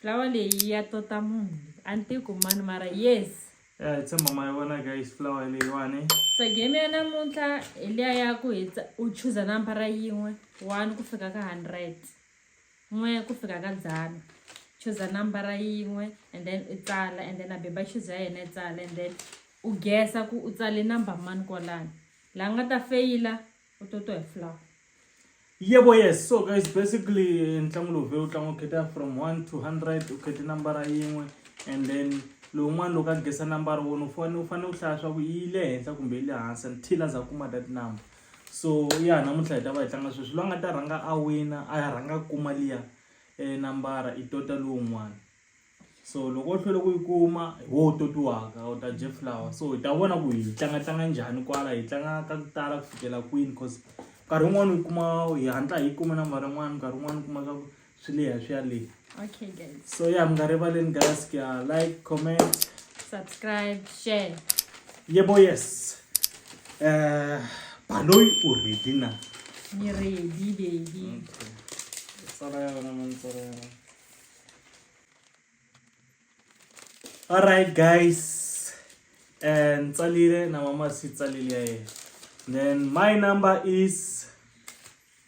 Flower leyi ya tota munhu. A ni tiku mani mara yes. Ya hi tshemba ma yi vona guys flower leyiwani. Se game ya namuntlha hi liya ya ku hi u chuza nambara yin'we one ku fika ka hundred n'we ku fika ka dzana chuza nambara yin'we and then u tsala and then a beba chuza ya yena yi tsala and then u gesa ku u tsale number mani kwalani laha nga ta feyila u to to hi flower yebo yes so guys basically ntlangu lowu vhele u tlanga u kheta from one to hundred u khete nambara yin'we and then lowun'wana loko a gesa nambara wona u fane u fanele u hlaya swa ku yi le henhla kumbe yi le hansi until a za kuma that number so ya namuntlha hi ta va hi tlanga sweswi loyi a nga ta rhanga a wina a ya rhanga kuma liya um nambara i tota lowun'wana so loko u hlwele ku yi kuma hi wo u totiwaka u ta jeff flower so hi ta vona ku hi tlanga tlanga njhani kwala hi tlanga ka ku tala ku fikela kwini cause nkarhi wun'wani u kuma hi hatla hi kuma nambara yin'wani nkarhi wun'wani u kuma ka swi leha swi ya leha okay guys so ya mi nga rivaleni guys ku ya like comment subscribe share yebo yes um baloyi u ready na ni ready baby okay. sala ya wena mantsala ya wena All right, guys. And Tsalile, na mama si Tsalile. Then my number is.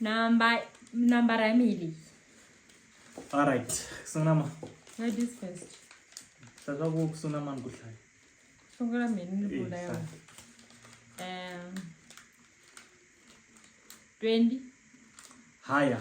Number number Emily. All right. Sunama. Where this first? Sasa ku sunama ngudlay. Sungula mina nibula eh, yona. Um 20 higher.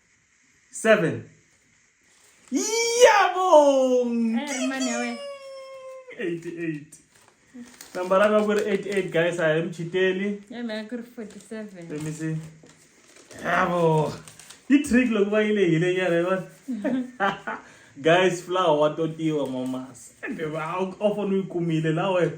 Seven. Yabong! Hey, man, 88. Number ranga ku ri 88 guys a hi muchiteli. Yeah, man, ku ri 47. Let me see. Yabo. Yi trick loko va yile hile nyana yi vona. Guys, flower wa totiwa mama. Sende va ofo ni yi kumile la wena.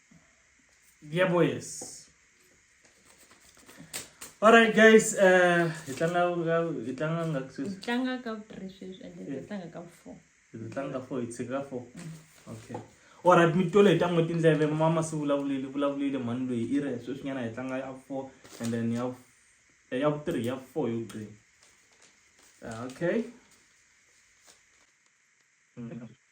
Yeah, boys. All right, guys. Uh, hi tlanga hi tlanga nga ku sweswi. Tlanga ka three sweswi and then tlanga ka four. Hi tlanga ka four, hi tshika ka four. Okay. All right, mi tole hi ta n'wi tindleve mama se vulavulile vulavulile mhani loyi i ri sweswi nyana hi tlanga ya four and then ya eh, ya three ya four yo gqina. Ah, okay. Mm -hmm.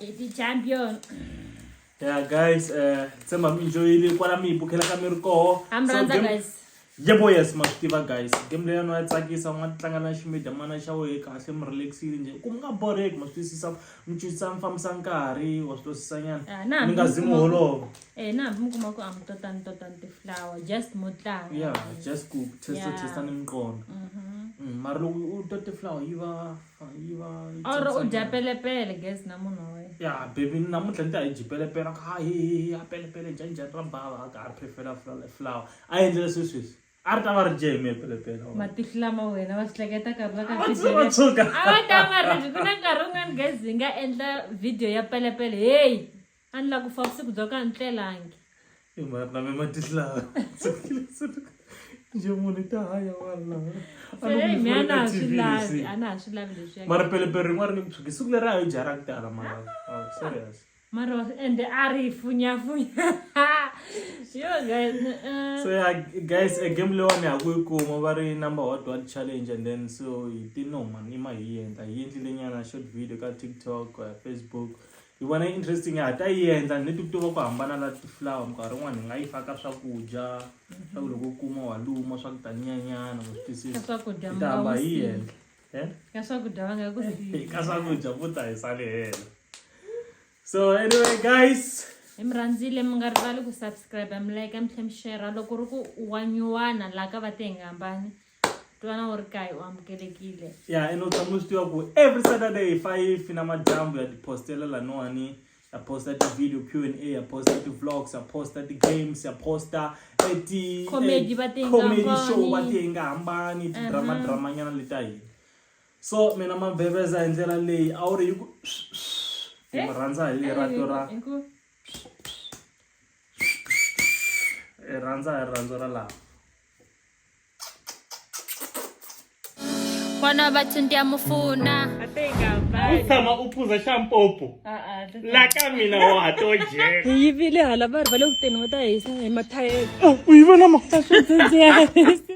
Eti champion. Yeah guys, eh tshemba mi enjoyile kwala mi bukela ka mi ri koho. I'm Randa guys. Yebo yes ma tiva guys. Game leyi no ya tsakisa u nga tlanga na ximida mana xa wehe kahle mi relaxile nje. Ku nga boreki ma twisisa mi twisisa mi fambisa nkarhi wa swi twisisa nyana. Ah, mi nga zi mu holova. Eh na mi kuma ku am tota ni tota ni flower just mo tlanga. Yeah, just ku test test ni mqondo. Mhm. Mm, mara loko u tota flower yi va or u dya pelepele gas na munhu wa wena ya baby namuntlha ni ta hi dyi pelepele a hi a pelepele njhanjhani ra bava a ka a ri phefela flower a endlela swesweswi a ri ta va ri dye hi mehe pelepele matihlo lama wena va swi hleketa nkarhi va katshuka a va ta va ri ku na nkarhi wun'wani gas hi nga endla video ya pelepele heyi a ni lava ku fa vusiku bya ku a ni tlelangi i mhaka na me matihlaha njhe munhu i ta haya walaha a ni Hey, ku mi a na ha swi TV lavi lexi. a na ha swi lavi leswi mara pelepele rin'wana ri nge ku tshuki siku leri a yi dya ra ku tala mara Oh, serious mara wa- ende a ri funyafunya yo guys eh, so yeah, guys a game leyiwani ha ku yi kuma va ri number hot one challenge and then so hi ti no man ima hi yi endla hi yi endlile nyana short video ka tiktok uh, facebook Hi vona yi interesting ha ta yi endla ni ti tiva ku hambana na ti-flower minkarhi yin'wana hi nga yi faka swakudya swa ku loko u kuma wa luma swa ku taninyanyana u swi twisisa Ka swakudya hi mi ta nga hamba wu hi siyi. endla Eh? ka swakudya va nga ku siyi ka swakudya vo ta hi sale hela so anyway guys hi mi rhandzile mi nga rivali ku subscribe mi like mi tlhe mi share loko ri ku wa nyuwana laha ka va te hi nga hambani twana u ri kae u amukelekile ya ene u tshama u swi tiva ku every saturday hi five na madyambu ya tipostela laniwani ya posta ti-video q and a ya posta ti-vlogs ya posta ti-games ya posta eti Comedy eh, va ti nga comedy hambani. show va ti nga hambani ti-drama drama nyana leta hina so mina mabeveza hi ndlela leyi a wu ri hi ku hi mi rhandza hi rito ra Hi ku- hi rhandza hi rirhandzu ra lava mwana wa vathu ndiyamufuna tshama u phuza xa mpopo la ka mina wa to jeka hi yivile hala va ri va le kuteni va ta hisa hi mathayele u yi vona makuta swi